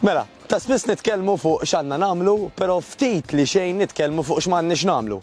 Mela, ta' spiss nitkellmu fuq x'għandna nagħmlu, però ftit li xejn nitkellmu fuq x'm'għandniex nagħmlu.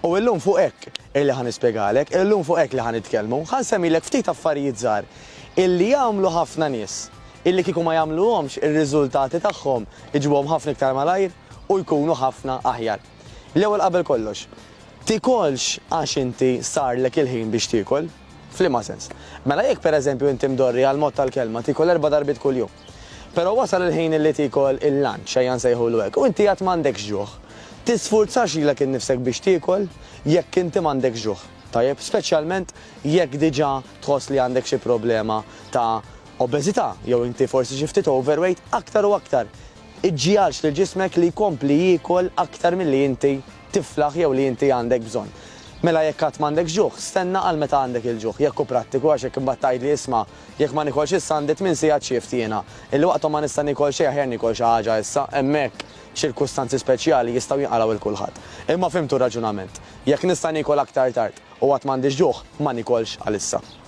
U illum fuq hekk illi ħa nispjegalek, illum fuq hekk li ħa nitkellmu, ħa nsemmilek ftit affarijiet żgħar illi jagħmlu ħafna nies, illi kieku ma jagħmluhomx ir-riżultati tagħhom iġibuhom ħafna iktar malajr u jkunu ħafna aħjar. L-ewwel qabel kollox, tikolx għax inti sarlek il-ħin biex tiekol? F'liema sens? Mela jekk pereżempju inti mdorri għall-mod tal-kelma tiekol erba' darbiet kuljum, però wasal il-ħin illi tiekol il-lunch, ejja nsejħulu hekk, u inti għad m'għandekx ġuħ, tisfurzax lilek innifsek biex tiekol jekk inti m'għandekx ġuħ, tajjeb? Speċjalment jekk diġà tħoss li għandek xi problema ta' obeżità jew inti forsi xi ftit overweight, aktar u aktar Iġġiegħelx lil ġismek li jkompli jiekol aktar milli inti tiflaħ jew li inti għandek bżonn. Mela jekk għad m'għandek ġuħ, stenna għal meta għandek il-ġuħ, jekk hu prattiku għax hekk imbagħad tgħidli isma', jekk ma niekolx issa għandi tmien sigħat shift jiena, illi waqthom ma nista' niekol xejn aħjar niekol xi ħaġa issa, hemmhekk ċirkustanzi speċjali jistgħu jinqalgħu 'l kulħadd. Imma fhimtu r-raġunament. Jekk nista' niekol aktar tard u għad m'għandix ġuħ, ma niekolx għalissa.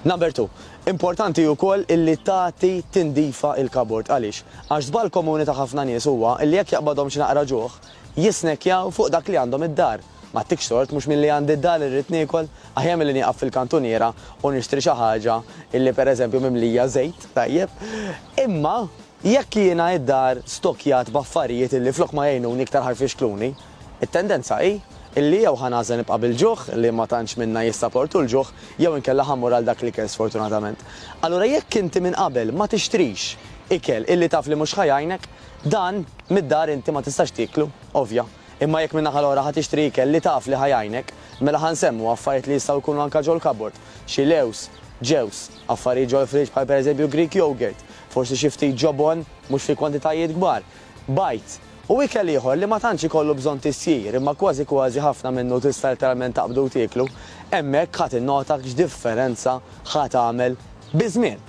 Number two, importanti wkoll illi tagħti tindifa il-kabord. Għaliex? Għax żball komuni ta' ħafna nies huwa illi jekk jaqbadhom xi naqra ġuħ, jisnekkjaw fuq dak li għandhom id-dar. M'għattikx tort, mhux milli għandi d-dar irrid niekol? Aħjar milli nieqaf fil-kantuniera u nixtri xi ħaġa illi per eżempju mimlija żejt, tajjeb? Imma jekk jiena id-dar stokkjat b'affarijiet illi flok ma jgħinuni iktar ħa jfixkluni, It-tendenza hi illi jew ħa nagħżel nibqa' bil-ġuħ, li ma tantx minna jissaportu l-ġuħ, jew inkella ħa mmur għal dak l-ikel sfortunatament. Allura jekk inti minn qabel ma tixtrix ikel illi taf li mhux ħa jgħinek, dan mid-dar inti ma tistax tieklu, ovvja. Imma jekk min-naħa l-oħra ħa tixtri ikel li taf li ħa jgħinek, mela ħa nsemmu affarijiet li jistgħu jkunu anke ġol-kabord, xi lewż, ġewż, affarijiet ġol-friġġ bħal pereżempju Greek yogurt, forsi xi ftit ġobon, mhux fi kwantitajiet kbar, Bajd, u ikel ieħor li ma tantx ikollu bżonn tisjir imma kważi kważi ħafna minnu tista' letteralment taqbdu u tieklu, hemmhekk ħa tinnota x'differenza ħa tagħmel biż-żmien.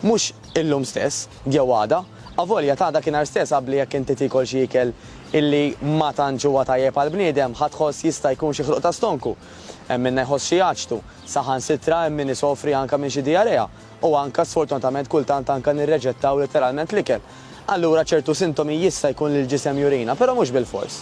Mhux illum stess, jew għada, avolja t'għada kien nhar stess abli jekk inti tiekol xi ikel illi ma tantx huwa tajjeb għall-bniedem ħa tħoss jista' jkun xi ħruq ta' stonku. Hemm minnha jħoss xi aġtu. Saħansitra hemm min isofri anke minn xi dijarea. u anke sfortunatament kultant anke nirreġettaw litteralment l-ikel. Allura ċertu sintomi jista' jkun li l-ġisem jurina, però mhux bilfors.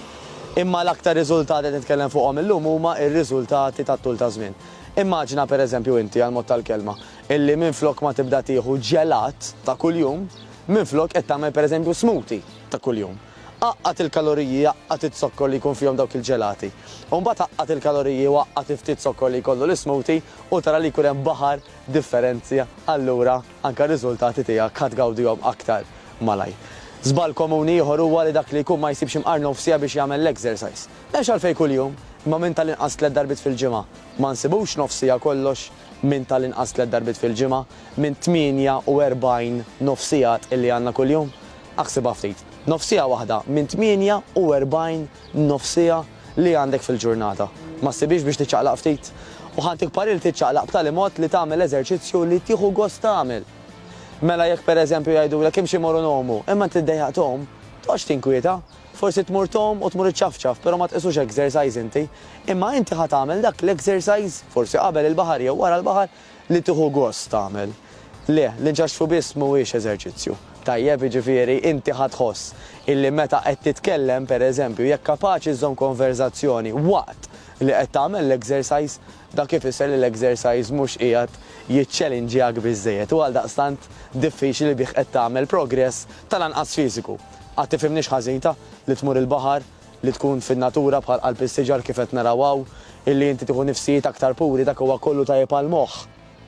Imma l-aktar riżultati qed nitkellem fuqhom illum huma r-riżultati tat-tul taż-żmien. Immaġina pereżempju inti, għall-mod tal-kelma, illi minflok ma tibda tieħu ġelat ta' kuljum, minflok qed tagħmel pereżempju smoothie ta' kuljum. Għaqqad il-kaloriji, għaqqad iz-zokkor li jkun fihom dawk il-ġelati. U mbagħad għaqqad il-kaloriji u għaqqad il-ftit zokkor li jkollu l-ismoothie u tara li jkun hemm baħar differenzi allura anke r-riżultati tiegħek ħa tgawdihom aktar malajr. Żball komuni ieħor huwa li dak li jkun ma jsibx imqar nofsiegħa biex jagħmel l-exercise. M'hemmx għalfejn kuljum, imma minn tal-inqas tliet darbiet fil-ġimgħa. Ma nsibux nofsiegħa kollox minn tal-inqas tliet darbiet fil-ġimgħa minn 48 nofsigħat illi għandna kuljum? Aħsibha ftit. Nofsiegħa waħda minn 48 nofsiegħa! li għandek fil-ġurnata. Ma ssibhiex biex tiċċaqlaq ftit? U ħa ntik parir tiċċaqlaq b'tali mod li tagħmel eżerċizzju li tieħu gost tagħmel. Mela jekk pereżempju jgħidulek imxi moru ngħumu, imma int iddejjaq tgħum, toqgħodx tinkwieta. Forsi tmur tgħum u tmur iċċafċaf, però ma tqisux exercise inti. Imma inti ħa tagħmel dak l-exercise, forsi qabel il-baħar jew wara l-baħar, Li tieħu gost tagħmel. Le, l-inxaxfu biss mhuwiex eżerċizzju. Tajjeb, jiġifieri, inti ħa tħoss illi meta qed titkellem, per eżempju, jekk kapaċi żżomm konverżazzjoni waqt li qed tagħmel l-exercise, dak ifisser li l-exercise mhux qiegħed jiċċelinġjak biżżejjed u għaldaqstant diffiċli bih qed tagħmel progress tal-anqas fiżiku. Qatt tifhimnix ħażin ta? Li tmur il-baħar, li tkun fin-natura bħal qalb is-siġar kif qed naraw hawn, illi inti tieħu nifsijiet aktar puri dak huwa kollu tajjeb għall-moħħ.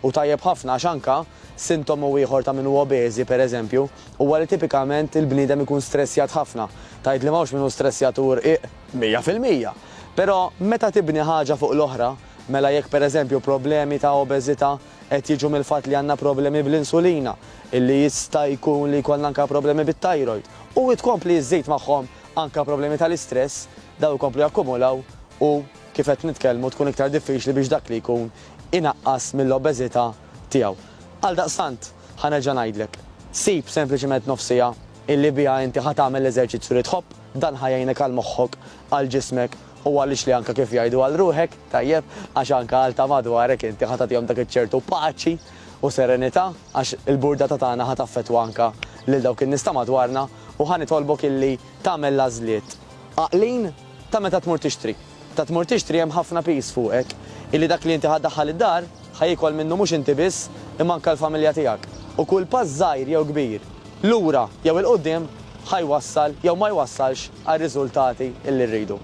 U tajjeb ħafna għax anke, sintomu ieħor ta' min hu obeżi, per eżempju, huwa li tipikament il-bniedem ikun stressjat ħafna. Tgħid li m'hawnx min hu stressjat u rqiq? Mija fil-mija! Però meta tibni ħaġa fuq l-oħra, mela jekk per eżempju problemi ta' obeżità, qed jiġu mill-fatt li għandna problemi bl-insulina, illi jista' jkun li jkollna anke problemi bit-thyroid, u tkompli iżżid magħhom anke problemi tal-istress, dawn ikomplu jakkumulaw u kif qed nitkellmu tkun iktar diffiċli biex dak li jkun inaqqas mill-obeżità tiegħu. Għaldaqstant, ħa nerġa' ngħidlek, sib sempliċement nofs siegħa illi biha inti ħa tagħmel l-eżerċizzju li tħobb, dan ħa jgħinek għal moħħok, għal ġismek, U għaliex li anke kif jgħidu għal ruħek, tajjeb, għax anke għal ta' madwarek inti ħa tagħtihom dak iċ-ċertu paċi u serenità, għax il-burdata tagħna ħa taffettwa anke lil dawk in-nies ta' madwarna, u ħa nitolbok illi tagħmel l-għażliet għaqlin ta' meta tmur tixtri. Meta tmur tixtri hemm ħafna piż fuqek illi dak li inti ħa ddaħħal id-dar, Ħa jiekol minnu mhux inti biss, imma anke l-familja tiegħek. U kull pass żgħir jew kbir, lura jew 'il quddiem, ħa jwassal jew ma jwassalx għar-riżultati li rridu.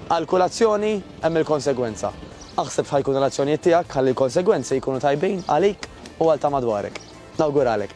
Għal kull azzjoni hemm il-konsegwenza. Aħseb x'ħa jkunu l-azzjonijiet tiegħek ħalli l-konsegwenzi jkunu tajbin għalik u għal ta' madwarek. Nawguralek!